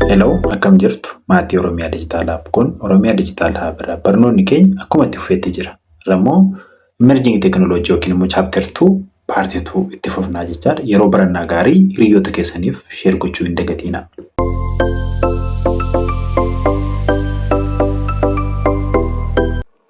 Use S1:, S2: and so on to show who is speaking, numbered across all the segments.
S1: Hello, akkam jirtu maatii Oromiyaa Digital Hub kun Oromiyaa Digital Hub irraa barnoonni keenya akkuma itti fufeetti jira. Irrammoo emerging technology yookiin immoo chapter 2 part 2 itti fufnaa jechaadha. Yeroo barannaa gaarii hiriyoota keessaniif share gochuu hin dagatinaa.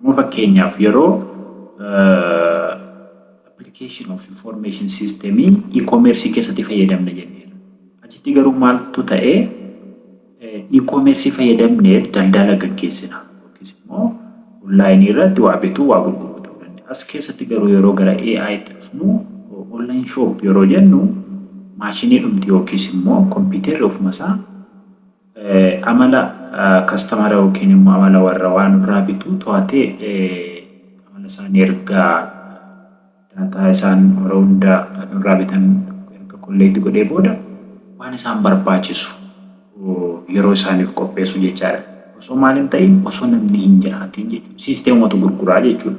S1: Amma fakkeenyaaf yeroo application of information system e-commerce keessatti fayyadamne jenneera. Achitti garuu maaltu ta'e e-commerce fayyadamne daldala gaggeessina yookiis immoo online irratti waa bituu waa gurguruu ta'uu danda'a. As keessatti garuu yeroo gara AI itti dhufnu online shop yeroo jennu maashinii dhumti yookiis immoo kompiitarri ofuma isaa Amala kastamara yookiin immoo amala warra waa nurraa bituu to'atee amala isaanii erga daataa isaan yeroo hunda nurraa bitan erga kolleekti godhee booda waan isaan barbaachisu yeroo isaaniif qopheessu jechaadha. Osoo maal hin ta'iin osoo namni hin jiraatiin jechuudha. Siisteemumatu gurguraa jechuudha.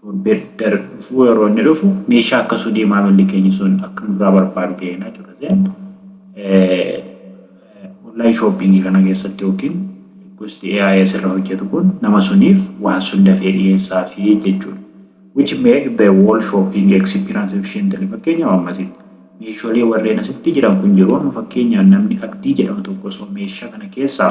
S1: Torbee darbe dhufuu yeroo inni dhufu meeshaa akkasuu dee maamilli keenya sun akka nurraa barbaadu ta'e na codhaseen online shopping kana keessatti yookiin gosti AI asirra hojjetu kun nama suniif waan sun dafee dhiyeessaa fi jechuudha. Which make the wall shopping experience efficiently fakkeenyaaf ammasitti. Meeshoolee warreen asitti jiran kun jiru amma fakkeenyaaf namni abdii jedhamu tokko osoo meeshaa kana keessaa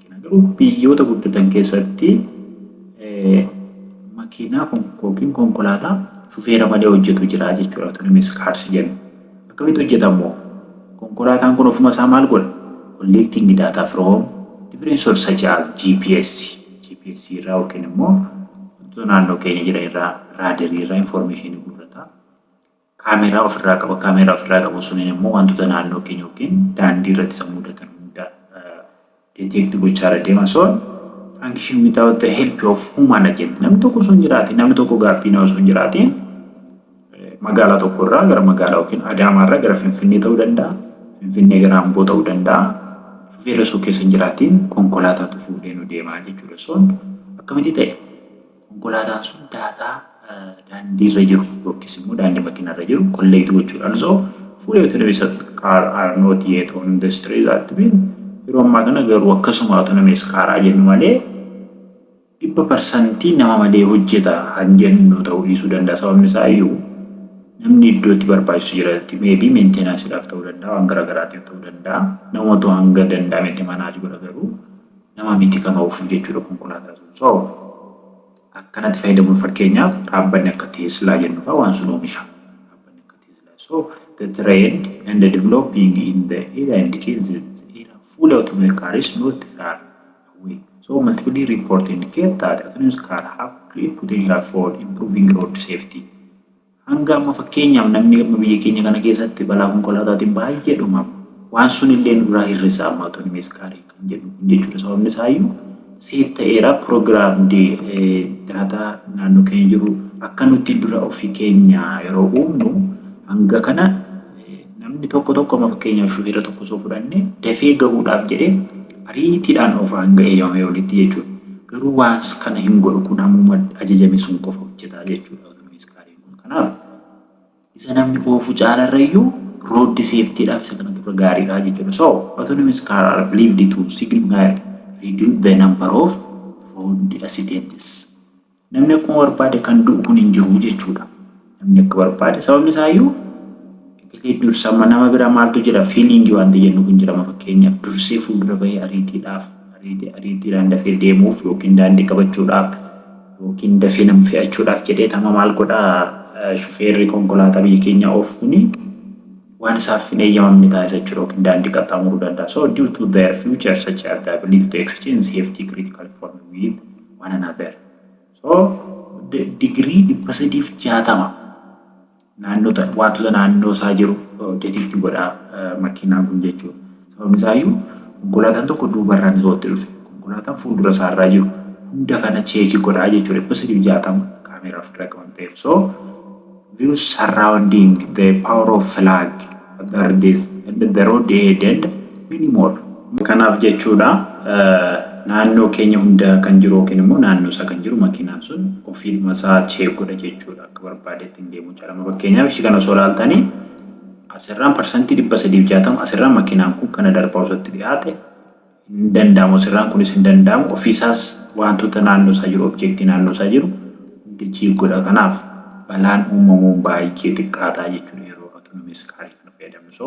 S1: argina. Garuu biyyoota guddatan keessatti makiinaa yookiin konkolaataa shufeera malee hojjetu jira jechuudha autonomous cars jennu. Akkamitti hojjeta immoo? Konkolaataan kun ofuma isaa maal godha? Collecting data from different source such as GPS, GPS irraa yookiin immoo wantoota naannoo keenya jiran irraa, raadarii irraa information guurrata. kaameeraa ofirraa qaba. Kaameeraa ofirraa qabu suniin immoo wantoota naannoo keenya yookiin daandii irratti isa mudatan hunda detect gochaarra deema. So function without the help of human agent. Namni tokko osoo hin jiraatiin, namni tokko gaabbiinaa osoo hin jiraatiin magaalaa tokko irraa gara magaalaa yookiin Adaamaa irraa gara Finfinnee ta'uu danda'a. Finfinnee gara Amboo ta'uu danda'a. Shufeerri osoo keessa hin jiraatiin konkolaataatu fuudhee nu deema jechuudha. So akkamitti ta'e? Konkolaataan sun daataa daandiirra jiru yookiis immoo daandii makiinaarra jiru kolleekti gochuudhaan osoo fully autonomous car are not yet on the street that mean yeroo ammaa kana garuu akkasuma autonomous car haa jennu malee dhibba parsantii nama malee hojjeta kan jennu ta'uu dhiisuu danda'a sababni isaa iyyuu namni iddoo itti barbaachisu jirati meebii meentenaansiidhaaf ta'uu danda'a waan garaagaraatiif ta'uu danda'a namatu hanga danda'ametti manaaj godha garuu nama miti kan oofuu jechuudha konkolaataa sun so akkanatti fayyadamuun fakkeenyaaf dhaabbanni akka teeslaa jennu fa'aa waan sun oomisha dhaabbanni akka teeslaa so the trend and the developing in the area indicates that the era full automobile car is not far away so multiple report indicate that autonomous car have great potential for improving road safety Hanga amma fakkeenyaaf namni amma biyya keenya kana keessatti balaa konkolaataatiin baay'ee dhumama. Waan sun illee nu biraa hir'isaa ammaa tuni miskaarii kan jedhu kun jechuudha. Sababni isaayyuu seet ta'eera pirogiraamdi daataa naannoo keenya jiru akka nuti dura ofii keenya yeroo uumnu hanga kana namni tokko tokko amma fakkeenyaaf shufeera tokko osoo fudhanne dafee gahuudhaaf jedhee ariitiidhaan oofaa hanga eeyyamamee olitti jechuudha. Garuu waan kana hin godhu kun hammuma ajajame sun qofa hojjetaa jechuudha. Namni iskaariin kun kanaaf isa namni oofu caalarra iyyuu rooddi seeftiidhaaf isa kana dura gaariidha jechuudha. So autonomous car are believed to significantly reduce the number of road accidents. Namni akkuma barbaade kan du'u kun hin jiru jechuudha. Namni akka barbaade sababni isaa iyyuu eegatee dursa amma nama bira maaltu jira fiiliingii wanti jennu kun jirama fakkeenyaaf dursee fuuldura bahee ariitiidhaaf ariitii ariitiidhaan dafee deemuuf yookiin daandii qabachuudhaaf ykn dafee nama fe'achuudhaaf jedheet amma maal godha shufeerri konkolaataa biyya keenyaa oofu kuni waan isaaf hin eeyyamamne taasisa jechuudha ykn daandii qaxxaamuruu danda'a. So due to their future such as the ability to exchange safety critical inform with one another. So degree 360 naannoo ta, waantota naannoo isaa jiru detect godha makiinaan kun jechuudha. Sababni isaa iyyuu konkolaataan tokko duubarraan osoo itti dhufe konkolaataan fuuldura isaa irraa jiru hunda kana cheeki godha jechuudha 360 kaameeraa ofirraa qaban ta'eef. So view surrounding the power of flag other days and the road ahead and many more. Kanaaf jechuudha naannoo keenya hunda kan jiru yookiin immoo naannoo isaa kan jiru makiinaan sun ofiidhuma isaa cheek godha jechuudha. bakka barbaadetti hin deemu jechaadha. Amma fakkeenyaaf ishii kana osoo ilaaltani asirraan parsantii dhibba sadii fi jaatama asirraan makiinaan kun kana darbaa osootti dhiyaate hin danda'amu asirraan kunis hin danda'amu ofiisaas wantoota naannoo isaa jiru objeektii naannoo isaa jiru hundi jiig godha kanaaf balaan uumamuun baay'ee xiqqaataa jechuudha yeroo autonomous car kana fayyadamnu so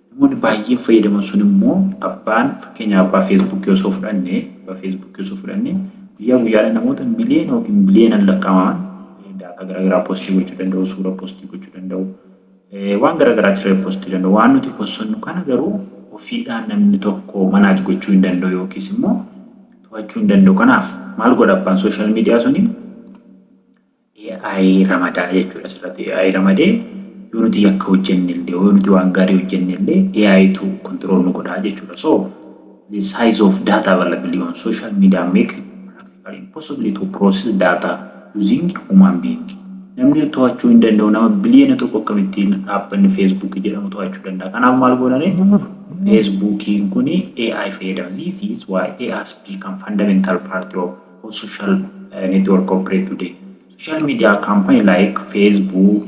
S1: Namoonni baay'een fayyadaman sun immoo abbaan fakkeenyaaf abbaa Facebook osoo fudhanne abbaa Facebook osoo fudhanne guyyaa guyyaadhaan namoota miliyoona yookiin biliyoonan lakkaa'aman daataa garaagaraa postii gochuu danda'u, suura postii gochuu danda'u, waan garaagaraa achirra postii danda'u. Waan nuti possannu kana garuu ofiidhaan namni tokko manaaj gochuu hin danda'u yookiis immoo to'achuu hin danda'u. Kanaaf maal godha abbaan sooshaal miidiyaa suni AI ramadaa jechuudha asirratti AI ramadee yoo nuti yakka hojjennellee yoo nuti waan gaarii hojjennellee AI tu control nu godhaa jechuudha so the size of data available on social media make it practically impossible to process data using human being namni to'achuu hin danda'u nama biliyoona tokko akkamittiin dhaabbanni feesbuukii jedhamu to'achuu danda'a kanaaf maal goonani feesbuukiin kun AI fayyadama this is why AI has become fundamental part of or social uh, network operate today. Social media company like Facebook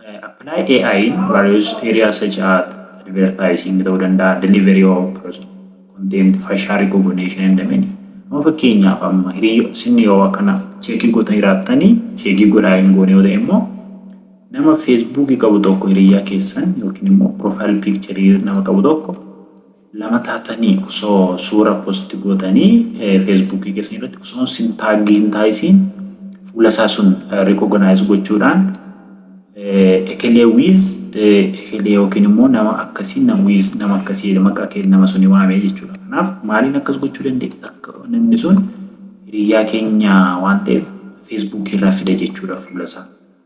S1: uh, apply AI in various areas such as advertising ta'uu danda'a, delivery of product, content, fashion recognition and many. Amma fakkeenyaaf amma hiriyo sinni yoo akkana cheekii gootanii jiraattanii cheekii godhaa hin goone yoo ta'e immoo nama feesbuukii qabu tokko hiriyaa keessan yookiin immoo profile picture nama qabu tokko lama taatani oso suura post gootani facebook keessan irratti osoon sin tag hin taayisiin fuula isaa sun recognize gochuudhaan ekelee wiiz ekelee yookiin immoo nama akkasii nama wiiz nama akkasii jedha maqaa kee nama suni waamee jechuudha kanaaf maaliin akkas gochuu dandeenya akka namni sun hiriyyaa keenya waan ta'eef facebook irraa fida jechuudha fuula isaa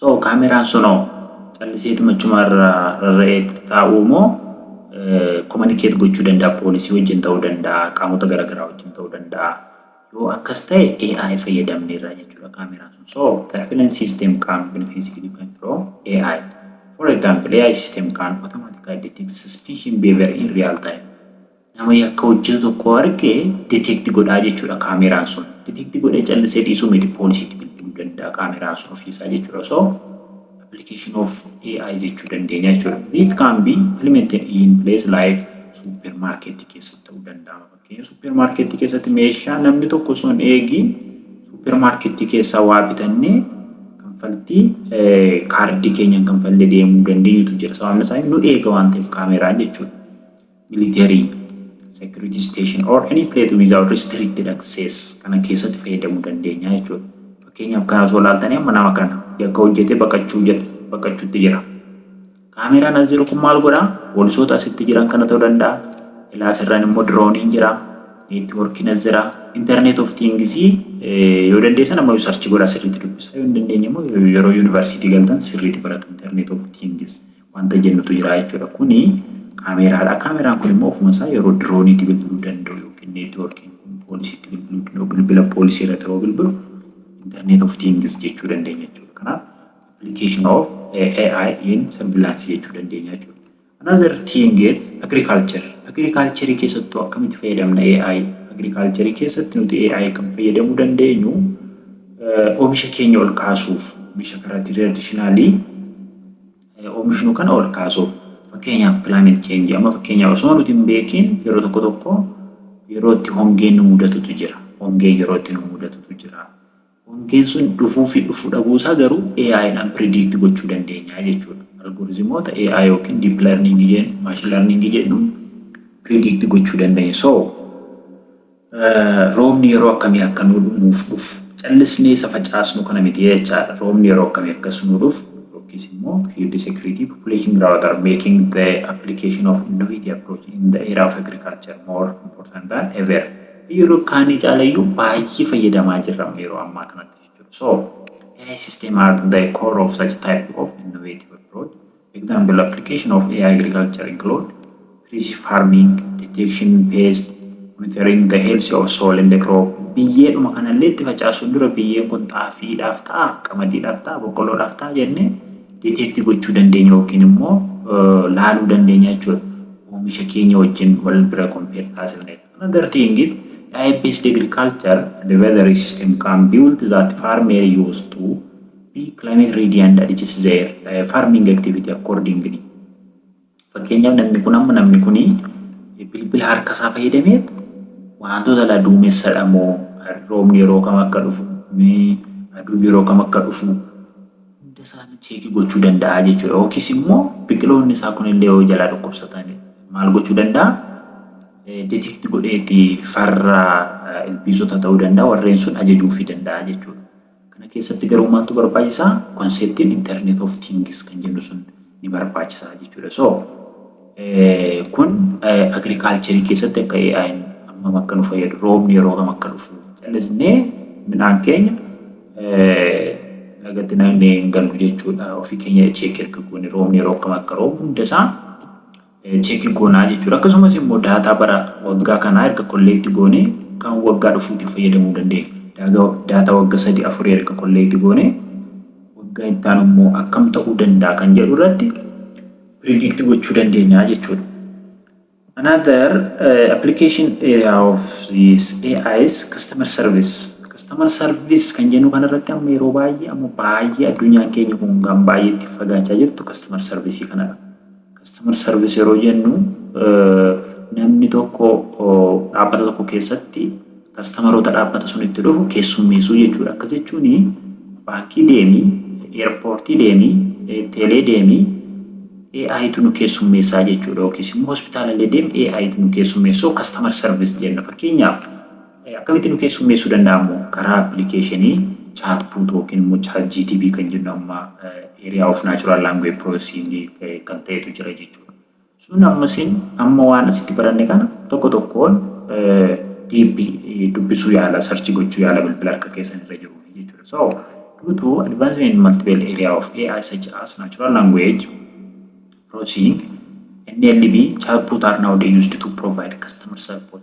S1: So kaameraan sunoo calliseetuma achumaa irra rarra'ee taa'uu moo communicate gochuu danda'a poolisii wajjin ta'uu danda'a qaamota garaagaraa wajjin ta'uu danda'a yoo akkas ta'e AI fayyadamneerra jechuudha kaameraan sun so surveillance system can be physically can from AI for example AI system can automatically detect suspicion behavior in real time Nama yakka hojjetu tokko arge detect godhaa jechuudha kaameeraan sun. Detect godhee callisee dhiisuu miti poolisiitti bilbiluu danda'a kaameeraan sun ofiisaa jechuudha. So application of AI jechuu dandeenya jechuudha. It can be implemented in place like supermarket keessatti ta'uu danda'a. Fakkeenya supermarket keessatti meeshaa namni tokko osoo hin eegiin supermarket keessaa waa bitannee kanfaltii kaardii keenyaan kanfallee deemuu dandeenyutu jira. Sababni isaa nu eega waan ta'eef kaameeraan jechuudha. military security station or any place without restricted access kana keessatti fayyadamuu dandeenya jechuudha. Fakkeenyaaf kana osoo ilaaltanii amma nama kana yakka hojjetee baqachuu jedha baqachuutti jira. Kaameraan as jiru kun maal godha? Poolisoota asitti jiran kana ta'uu danda'a. Ilaa asirraan immoo dirooniin jira. Neetwoorkiin as jira. Internet of things yoo dandeessan amma sarchi godhaa sirriitti dubbisaa yoo hin dandeenye immoo yeroo yuunivarsiitii galtan sirriitti baratu internet of things. wanta jennutu jiraa jechuudha. Kuni kaameeraadha. Kaameeraan kun immoo ofuma isaa yeroo dirooniitti bilbiluu danda'u yookiin neetwoorkiin kun poolisiitti bilbiluu danda'u bilbila poolisii irratti yeroo bilbilu internet of things jechuu dandeenya jechuudha. Kanaaf application of AI in surveillance jechuu dandeenya jechuudha. Another thing is agriculture. Agriculture keessattuu akkamitti fayyadamna AI? Agriculture keessatti nuti AI kan fayyadamuu dandeenyu oomisha keenya ol kaasuuf oomisha karaa traditionally oomishnu kana ol kaasuuf fakkeenyaaf climate change amma fakkeenyaaf osuma nuti hin beekiin yeroo tokko tokko yeroo itti hongeen nu mudatutu jira hongee yeroo itti nu mudatutu jira hongeen sun dhufuu fi dhufuu dhabuu isaa garuu AI dhaan predict gochuu dandeenya jechuudha algorizimoota AI yookiin deep learning jedhu machine learning jedhu predict gochuu dandeenya so Roobni yeroo akkamii akka nuu nuuf dhufu callisnee isa facaasnu kana miti jechaadha. Roobni yeroo akkamii akkas nuu dhufu yookiis immoo field security population growth are making the application of innovative approach in the area of agriculture more important than ever. Yeroo kaanii caalayyuu baay'ee fayyadamaa jirra amma yeroo ammaa kanatti jechuudha. So AI system are the core of such type of innovative approach Example, Application of AI agriculture include precision farming, detection pest, monitoring the health of soil and the crop. Biyyeedhuma kanallee itti facaasuun dura biyyeen kun xaafiidhaaf ta'a, qamadiidhaaf ta'a, boqqolloodhaaf ta'a jennee detect gochuu dandeenya yookiin immoo laaluu dandeenya jechuudha. Oomisha keenya wajjin wal bira compare taasifna jechuudha. Another thing is diet based agriculture and weathery system can build that farmer use to be climate ready and adjust their farming activity accordingly. Fakkeenyaaf namni kun amma namni kun bilbila harka isaa fayyadamee wantoota la duumessadha moo roobni yeroo kam akka dhufu aduun yeroo kam akka dhufu hunda isaanii cheekii gochuu danda'a jechuudha. Yookiis immoo biqiloonni isaa kunillee yoo jalaa dhukkubsatan maal gochuu danda'a? detect godheeti farra ilbiisota ta'uu danda'a warreen sun ajajuufii danda'a jechuudha. Kana keessatti garuu maaltu barbaachisa? Konseptiin internet of things kan jennu sun ni barbaachisa jechuudha. So kun agriculture keessatti akka AI'n hammam akka nu fayyadu roobni yeroo kam akka dhufu callisnee midhaan keenya lagatti naqnee hin gallu jechuudha. Ofii keenya cheek erga goone roobni yeroo kam akka roobu hunda isaa check goonaa jechuudha. Akkasumas immoo daataa bara waggaa kanaa erga kolleekti goonee kan waggaa dhufuutiif fayyadamuu dandeenya. Daaga daataa wagga sadii afurii erga kolleekti goonee waggaa itti aanu immoo akkam ta'uu danda'a kan jedhu irratti predict gochuu dandeenya jechuudha. Another uh, application area of this AI is customer service. Customer service kan jennu kanarratti amma yeroo baay'ee amma baay'ee addunyaan keenya kun kan baay'ee itti fagaachaa jirtu customer service kanadha. Customer service yeroo jennu namni tokko dhaabbata tokko keessatti kastamaroota dhaabbata sunitti dhufu keessummeessuu jechuudha. Akkas jechuun baankii deemi, eerpoortii deemi, teelee deemi AItu nu keessummeessaa jechuudha. Yookiis immoo hospitaalallee deemi AItu nu keessummeessoo customer service jenna. Fakkeenyaaf Akkamitti nu keessummeessuu danda'a immoo? Karaa appilikeeshinii Chatbot yookiin immoo ChatGTP kan jennu amma Area of Natural Language Processing kan ta'etu jira jechuudha. Sun ammasiin amma waan asitti baranne kana tokko tokkoon deep dubbisuu yaala, search gochuu yaala bilbila harka keessan irra jiru jechuudha. So, due to advancement in multiple area of AI such as natural language processing, NLP, chatbot are nowadays used to provide customer support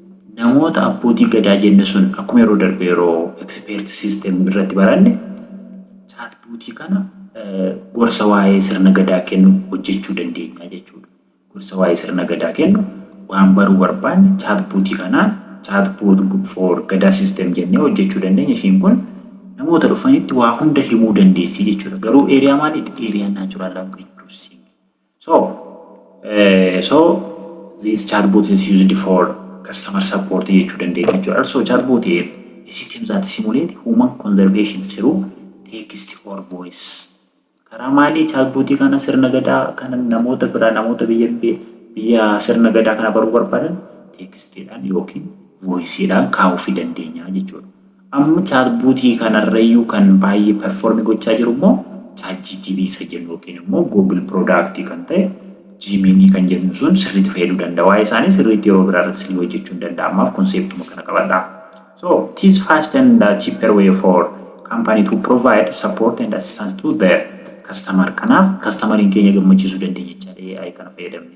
S1: Namoota abbootii gadaa jenne sun akkuma yeroo darbe yeroo expert system irratti baranne chatbot kana gorsa waa'ee sirna gadaa kennu hojjechuu dandeenya jechuudha. Gorsa waa'ee sirna gadaa kennu waan baruu barbaanne chatbot kanaan chatbot for gadaa system jennee hojjechuu dandeenya. Ishiin kun namoota dhufanitti waa hunda himuu dandeessi jechuudha. Garuu area maaliiti? Area natural language processing. So, eh, so this chatbot is used for customer support jechuu dandeenya jechuudha. Also chatbot here a system that simulate human conservation through text or voice. Karaa maalii chatbotii kana sirna gadaa kana namoota biraa namoota biyya biyya sirna gadaa kana baruu barbaadan tekstiidhaan yookiin voisiidhaan kaa'uufii dandeenya jechuudha. Amma chatbot kanarrayyuu kan baay'ee perform gochaa jiru immoo chatgtp isa jennu yookiin immoo google product kan ta'e Gemini kan jennu sun sirriitti fayyaduu danda'a. Waa'ee isaanii sirriitti yeroo biraa irratti isinii hojjechuun danda'a. Ammaaf conceptuma kana qabadhaa. So, it is fast and cheaper way for company to provide support and assistance to their customer. Kanaaf kastamariin keenya gammachiisuu dandeenya jechaadha AI kana fayyadamne.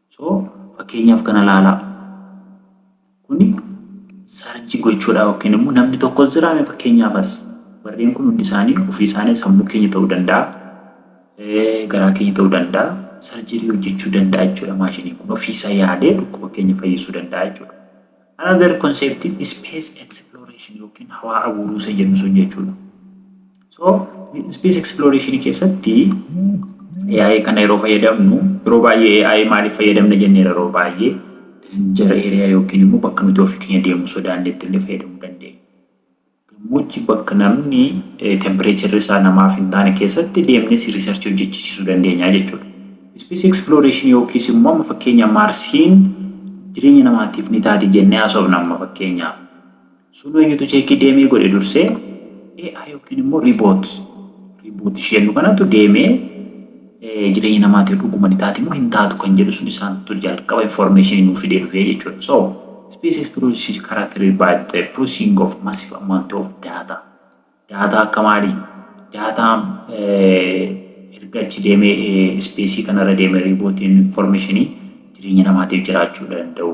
S1: So fakkeenyaaf kana laalaa. Kuni sarchi gochuudha yookiin immoo namni tokkos jira mee fakkeenyaaf as. Warreen kun hundi isaanii ofii isaanii sammuu keenya ta'uu danda'a. Garaa keenya ta'uu danda'a. Sarjirii hojjechuu danda'a jechuudha maashiniin kun ofii isaa yaadee dhukkuba keenya fayyisuu danda'a jechuudha. Another concept is space exploration yookiin hawaa abuuruu isa jennu sun jechuudha. So space exploration keessatti AI kana yeroo fayyadamnu yeroo baay'ee AI maaliif fayyadamna jenneera yeroo baay'ee danger area yookiin immoo bakka nuti ofii keenya deemuu sodaannetti illee fayyadamuu dandeenya. Gammoojji bakka namni tempireecharri isaa namaaf hin taane keessatti deemnee si research hojjechiisiisuu dandeenya jechuudha. Space exploration yookiis immoo amma fakkeenyaaf Maarsiin jireenya namaatiif ni taati jennee haasofna amma fakkeenyaaf. Sunuu eenyutu cheekii deemee godhe dursee? AI yookiin immoo Riboot, Riboot isheennu kanatu deemee jireenya namaatiif dhuguma ni taati moo hin taatu kan jedhu sun isaantu jalqaba information nuuf fidee dhufee jechuudha. So, species processes characterized by the processing of massive amount of data. Data akka maali? Data erga achi deemee species kanarra deemee riibootiin information jireenya namaatiif jiraachuu danda'u.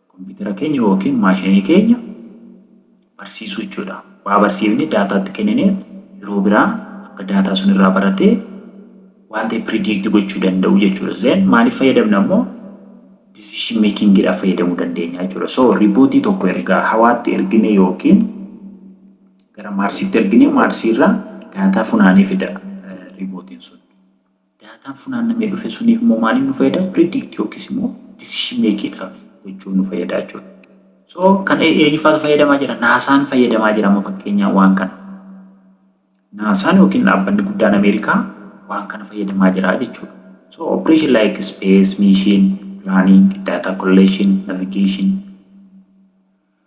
S1: Kompiitara keenya ykn maashinii keenya barsiisuu jechuudha. Waa barsiifnee daataa itti kenninee yeroo biraa akka daataa sun irraa baratee waan ta'e predict gochuu danda'u jechuudha. Then maaliif fayyadamna immoo decision making dhaaf fayyadamuu dandeenya jechuudha. So ripootii tokko ergaa hawaatti erginee ykn gara maarsiitti erginee maarsii irraa daataa funaanee fida ripootiin sun. Daataan funaannamee dhufe suniif immoo maaliif nu fayyada? Predict yookiis immoo decision make dhaaf gochuuf nu fayyada jechuudha. So kan eenyufaatu fayyadamaa jira? Naasaan fayyadamaa jira amma fakkeenyaa waan kana. Naasaan yookiin dhaabbanni guddaan Ameerikaa waan kana fayyadamaa jira jechuudha. So operation like space mission, planning, data collection, navigation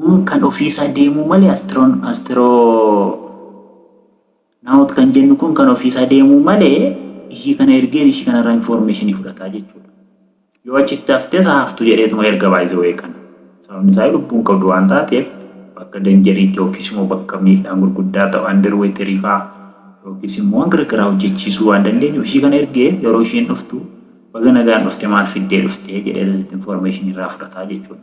S1: Kun kan ofii isaa deemuu malee astiroon astiroonaawut kan jennu kun kan ofii isaa deemuu malee ishii kana ergee ishii kanarraa infoormeeshinii fudhataa jechuudha. Yoo achitti haftes haa haftu jedheetuma erga by the way kana. Sababni isaa lubbuun qabdu waan taateef bakka danjariitti yookiis immoo bakka miidhaan gurguddaa ta'u andirweeterii faa yookiis immoo waan garagaraa hojjechiisuu waan dandeenyuuf ishii kana ergee yeroo isheen dhuftu baga nagaan dhufte maal fiddee dhufte jedhee asitti infoormeeshinii irraa fudhataa jechuudha.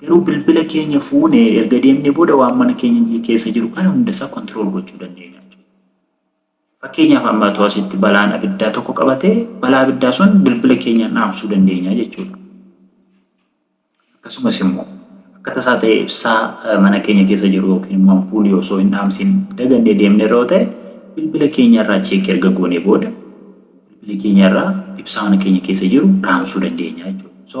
S1: Garuu bilbila keenya fuune erga deemnee booda waan mana keenya keessa jiru kana hundasaa control gochuu dandeenya jechuudha. Fakkeenyaaf amma otoo asitti balaan abiddaa tokko qabate balaa abiddaa sun bilbila keenyaan dhaamsuu dandeenya jechuudha. Akkasumas immoo akka tasaa ta'e ibsaa mana keenya keessa jiru yookiin immoo ampuulii osoo hin dhaamsiin dagannee deemne irra yoo ta'e bilbila keenya irraa cheekii erga goonee booda bilbila keenya irraa ibsaa mana keenya keessa jiru dhaamsuu dandeenya jechuudha. So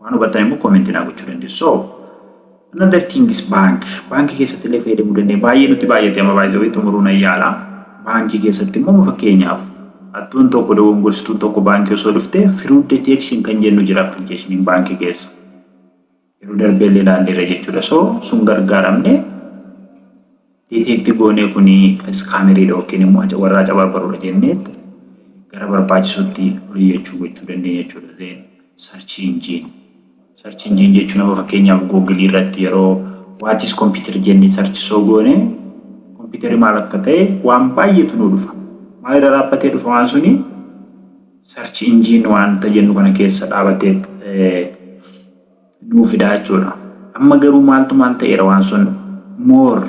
S1: Waan hubattan immoo comment naa gochuu dandeessu. So another thing is bank. Baankii keessatti illee fayyadamuu dandeenya. Baay'ee nutti baay'ate amma baay'ee wayii xumuruu nan yaala. Baankii keessatti immoo fakkeenyaaf attuun tokko dogongorsituu tokko baankii osoo dhufte fraud detection kan jennu jira appilikeeshiniin baankii keessa. Yeroo darbee illee ilaalleerra jechuudha. So sun gargaaramne Iti itti goonee kuni scammer dha yookiin immoo warra acabarbarudha jenneet gara barbaachisutti oliyyachu gochuu dandeenya jechuudha. Then search engine search engine jechuun amma fakkeenyaaf google irratti yeroo what is computer jennee search soo goone computer maal akka ta'e waan baay'eetu nuu dhufa. Maal irra dhaabbatee dhufa waan suni search engine waanta jennu kana keessa dhaabateet nuu fidaa jechuudha. Amma garuu maaltu maal ta'eera waan sun more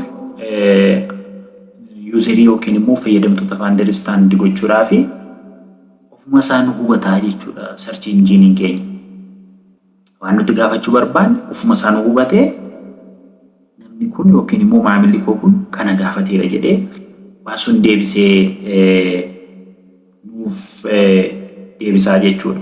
S1: yuuzerii yookiin immoo fayyadamtoota faandaristandi gochuudhaa fi ofuma isaa nu hubataa jechuudha sarchi injiiniin keenya. Waan nuti gaafachuu barbaanne ofuma isaa nu hubatee namni kun yookiin immoo maamilli koo kun kana gaafateera jedhee waan sun deebisee nuuf deebisaa jechuudha.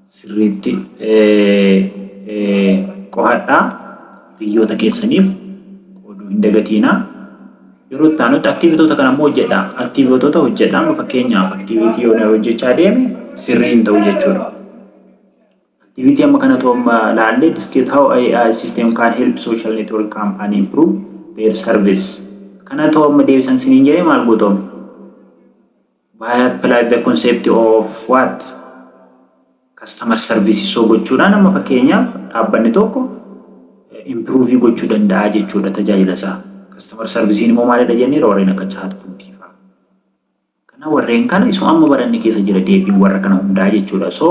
S1: sirriitti qo'adhaa hiriyyoota keessaniif qooduu hin dagatiinaa. Yeroo itti aanutti aktiivitoota kana immoo hojjedhaa. Aktiivitoota hojjedhaa amma fakkeenyaaf aktiivitii yoo hojjechaa deeme sirrii hin ta'u jechuudha. Aktiivitii amma kana otoo amma laallee diskeet how AI system can help social network company improve their service. Kana otoo amma deebisan siniin jedhee maal gootoome? By apply the concept of what? Customer service soo gochuudhaan amma fakkeenyaaf dhaabbanni tokko improve gochuu danda'a jechuudha tajaajila isaa. Customer service immoo maalidha jenneera warreen akka chat bootii fa'aa. Kana warreen kana isuma amma baranne keessa jira deebiin warra kana hundaa jechuudha. So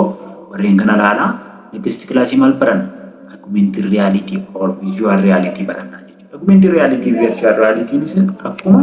S1: warreen kana ilaalaa next class maal baranna? Augmented reality or visual reality barannaa jechuudha. Augmented reality virtual reality akkuma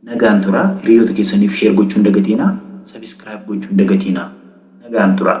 S1: Nagaan tura hiriyoota keessaniif share gochuu hin dagatiina subscribe gochuu hin dagatiina nagaan tura.